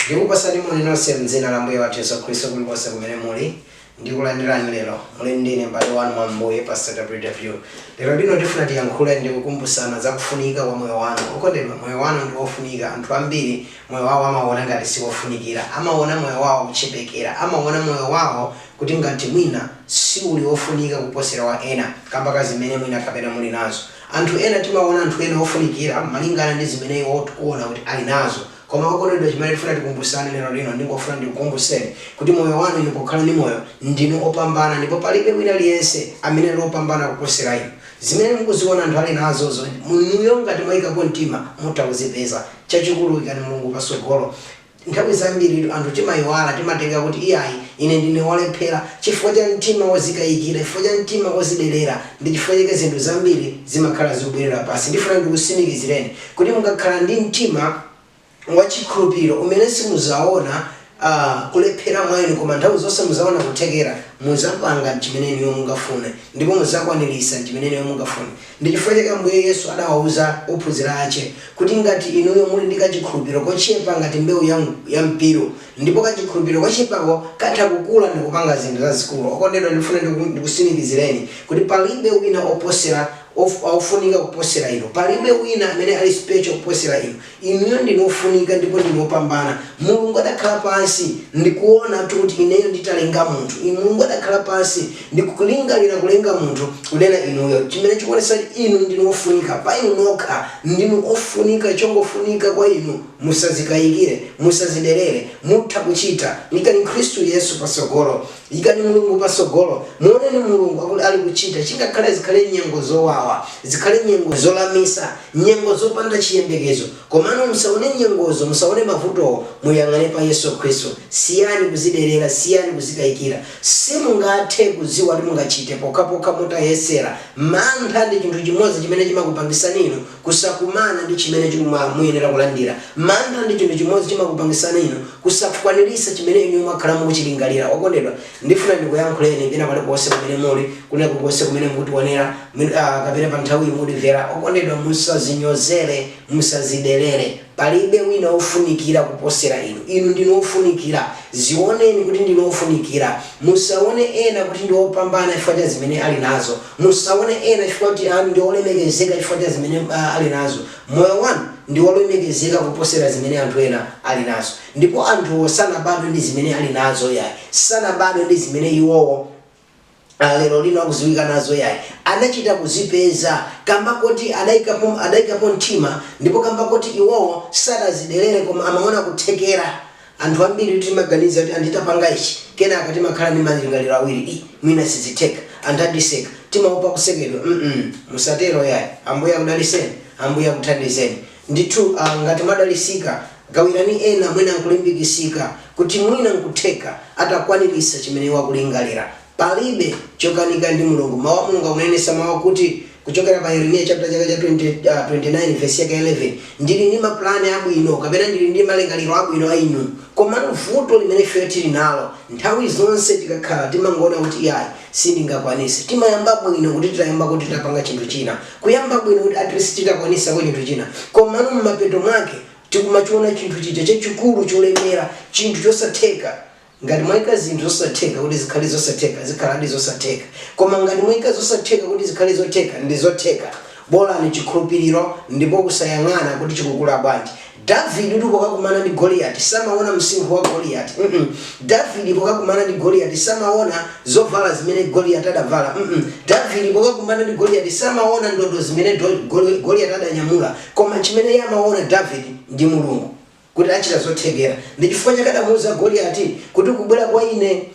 Ndikupatsani moni nonse m'dzina la Ambuye wathu Yesu Khristu kulikonse kumene muli. Ndikulandirani lero lino. Muli ndi ine m'bale wanu mwa Ambuye, Pastor WW. Lero lino tifuna tiyankhule ndi kukumbutsana za kufunika kwa moyo wanu. Okondedwa, moyo wanu ndi wofunika. Anthu ambiri moyo wawo amauona ngati si wofunikira. Amauona moyo wawo kuchepekera. Amauona moyo wawo kuti ngati mwina si uli wofunika kuposera wa ena kamba ka zimene mwina kapena muli nazo. Anthu ena timaona anthu ena ofunikira malingana ndi zimene iwo tikuona kuti ali nazo. Koma okondedwa chimene tifuna tikumbusane lero lino ndingofuna ndikukumbuseni kuti moyo wanu inu pokhala ndi moyo ndinu opambana ndipo palibe wina aliyense amene ali opambana kuposera inu. Zimene mukuziona anthu ali nazozo inuyo ngati mwaikapo mtima mutha kuzipeza. Chachikulu ikani Mulungu pasogolo. Nthawi zambiritu anthu timayiwala, timatenga kuti iyayi ine ndine wolephera, chifukwa cha mtima wozikayikira, chifukwa cha mtima ozidelera, ndi chifukwa chake zinthu zambiri zimakhala zikubwelera pansi. Ndifuna ndikusimikizireni kuti mukakhala ndi mtima wa chikhulupiliro umene simuzaona a kulephera mwa inu koma nthawi zonse muzaona kuthekera, muzapanga mchimene inuyo mungafune ndipo muzakwanilisa mchimene inuyo mungafune. Ndi chifukwa chake Ambuye Yesu adawauza ophunzira ache kuti ngati inuyo muli ndi kachikhulupiro kochepa ngati mbeu ya mpiru, ndipo kachikhulupiro kochepako katha kukula ndikupanga zinthu zazikulu, okondedwa ndifuna ndiku ndikusimikizireni kuti palibe wina oposera, of, ofunika kuposera inu, palibe wina amene ali special kuposera inu, Inuyo ndinu ofunika ndipo ndinu opambana. Mulungu adakhala pansi ndi kuona kuti ineyo nditalenga munthu inu, Mulungu adakhala pansi ndi kulingalira kulenga munthu kunena inuyo, chimene chikuonetsa kuti inu ndinu ofunika pa inu nokha. Ndinu ofunika chongofunika kwa inu musazikayikire, musaziderere, mutha kuchita. Ikani Khristu Yesu patsogolo. Yikani Mulungu patsogolo. Muoneni Mulungu akuti ali kuchita, chingakhale zikhale nyengo zowawa, zikhale nyengo zolamisa, nyengo zopanda chiyembekezo, komano musaone nyengozo, musaone mavutowo, muyang'ane pa Yesu Khristu. Siyani kuzidelera, siyani kuzikayikira. Simungathe kudziwa kuti mungachite pokhapokha mutayesera. Mantha ndi chinthu chimodzi chimene chimakupangisani inu Kusakumana ndi chimene mumayenera kulandira. Mantha ndi chinthu chimodzi chimakupangisani inu kusakwanirisa chimene inuyo mwakhala mukuchilingalira. Okondedwa, ndifuna ndikuyankhuleni pena paliponse pamene muli, kwina kulikonse kumene mukutionera, mwina, ah, kapena pa nthawiyi mukundimvera. Okondedwa, musazinyozere, musazidelere. Palibe wina wofunikira kuposera inu. Inu ndinu wofunikira. Ziwoneni kuti ndinu wofunikira. Musawone ena kuti ndi opambana chifukwa cha zimene ali nazo. Musawone ena chifukwa kuti ndi olemekezeka chifukwa cha zimene ali nazo. Moyo wanu ndi wolemekezeka kuposera zimene anthu ena ali nazo. Ndipo anthuwo sanabadwe ndi zimene ali nazo, yayi, sanabadwe ndi zimene iwowo. a lero lino akudziwika nazo yayi. Adachita kuzipeza kamba koti adaikapo adaikapo mtima ndipo kamba koti iwowo sadazidelere koma amaona kuthekera. Anthu ambiritu timaganiza kuti ndi tapanga ichi kenaka timakhala ndi malingaliro awiri ii mwina sizitheka anthu andiseka timaopa kusekedwa mm musatero yayi Ambuye akudalitseni Ambuye akuthandizeni ndithu a ngati mwadalisika Gawirani ena mwina n'kulimbikitsika kuti mwina n'kutheka atakwaniritsa chimene iwo akulingalira. Palibe chokanika ndi Mulungu. Mawu a Mulungu akunenetsa mawu akuti kuchokera pa Yeremiya chaputala chake cha 20, uh, 29 vesi yake ya 11, Ndili ndi mapulani abwino kapena ndili ndi malingaliro abwino pa inu. Komano vuto limene ifeyo tili nalo, nthawi zonse tikakhala timangoona kuti iyayi, sindingakwanitse. Timayamba bwino kuti titayamba kuti titapanga chinthu china. Kuyamba bwino kuti at least titakwanitsako chinthu china komano mmapeto mwake tikumachiona chinthu chija chachikulu cholemera chinthu chosatheka ngati mwaika zinthu zosatheka kuti zikhale zosatheka zikhaladi zosatheka koma ngati mwaika zosatheka kuti zikhale zotheka ndizotheka bolani chikhulupiriro ndipo kusayang'ana kuti chikukula bwanji Davidetu pokakumana ndi Goliati samaona msinkhu wa Goliati mm Davide pokakumana ndi Goliati samaona zovala zimene Goliati adavala mm Davide pokakumana ndi Goliati samaona ndodo zimene Goliati adanyamula koma chimene iye amaona Davide ndi Mulungu kuti achita zothekera ndi chifukwa chake adamuuza Goliati kuti ukubwera kwa ine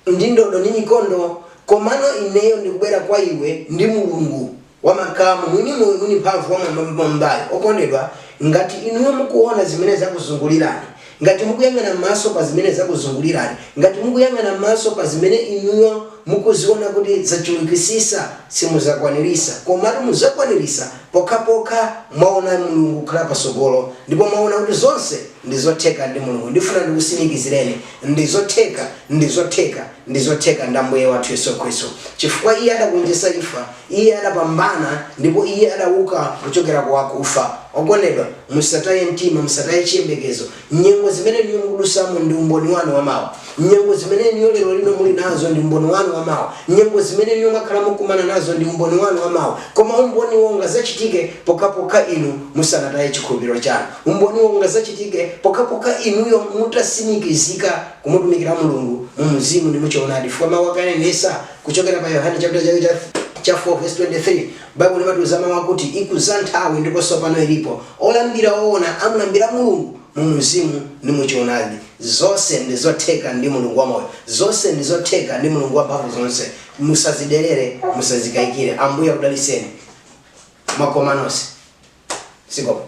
ndi ndodo ndi mikondo, komano ineyo ndikubwera kwa iwe ndi Mulungu wa makamu, Mwini moyo, Mwini Mphamvu, Wam'mwambamwambayo. Okondedwa, ngati inuyo mukuona zimene zakuzungulirani, ngati mukuyang'ana m'maso pa zimene zakuzungulirani, ngati mukuyang'ana m'maso pa zimene inuyo mukuziona kuti zachulukitsitsa, simudzakwaniritsa, komano mudzakwaniritsa pokhapokha mwaona Mulungu kukhala patsogolo, ndipo mwaona kuti zonse ndizotheka ndi Mulungu. Ndifuna ndikutsimikizireni Ndi zotheka, ndi zotheka, ndi zotheka ndi Ambuye wathu Yesu Khristu. Chifukwa Iye adagonjetsa imfa, Iye adapambana ndipo Iye adawuka kuchokera ku akufa. Okondedwa, musataye mtima, musataye chiyembekezo. Nyengo zimene inuyo mukudutsamo ndi umboni wanu wa mawa. Nyengo zimene inuyo lero lino muli nazo ndi umboni wanu wa mawa. Nyengo zimene inuyo mwakhala mukukumana nazo ndi umboni wanu wa mawa. Koma umboniwo ungadzachitike pokhapokha inu musanataye chikhulupiriro chanu. Umboniwo ungadzachitike pokhapokha inuyo mutatsimikizika kumutumikira Mulungu mu mzimu ndi mu choonadi, chifukwa Mawu ake anenetsa kuchokera pa Yohane chaputala chake cha 4 vesi 23, Baibulo limatiuza mawu akuti, Ikudza nthawi, ndipo tsopano ilipo, olambira oona amulambira Mulungu mu mzimu ndi mu choonadi. Zonse ndi zotheka ndi Mulungu wamoyo. Zonse ndi zotheka ndi Mulungu wamphamvu zonse. Musadziderere, musadzikayikire. Ambuye akudalitseni. makoma nonse sikopo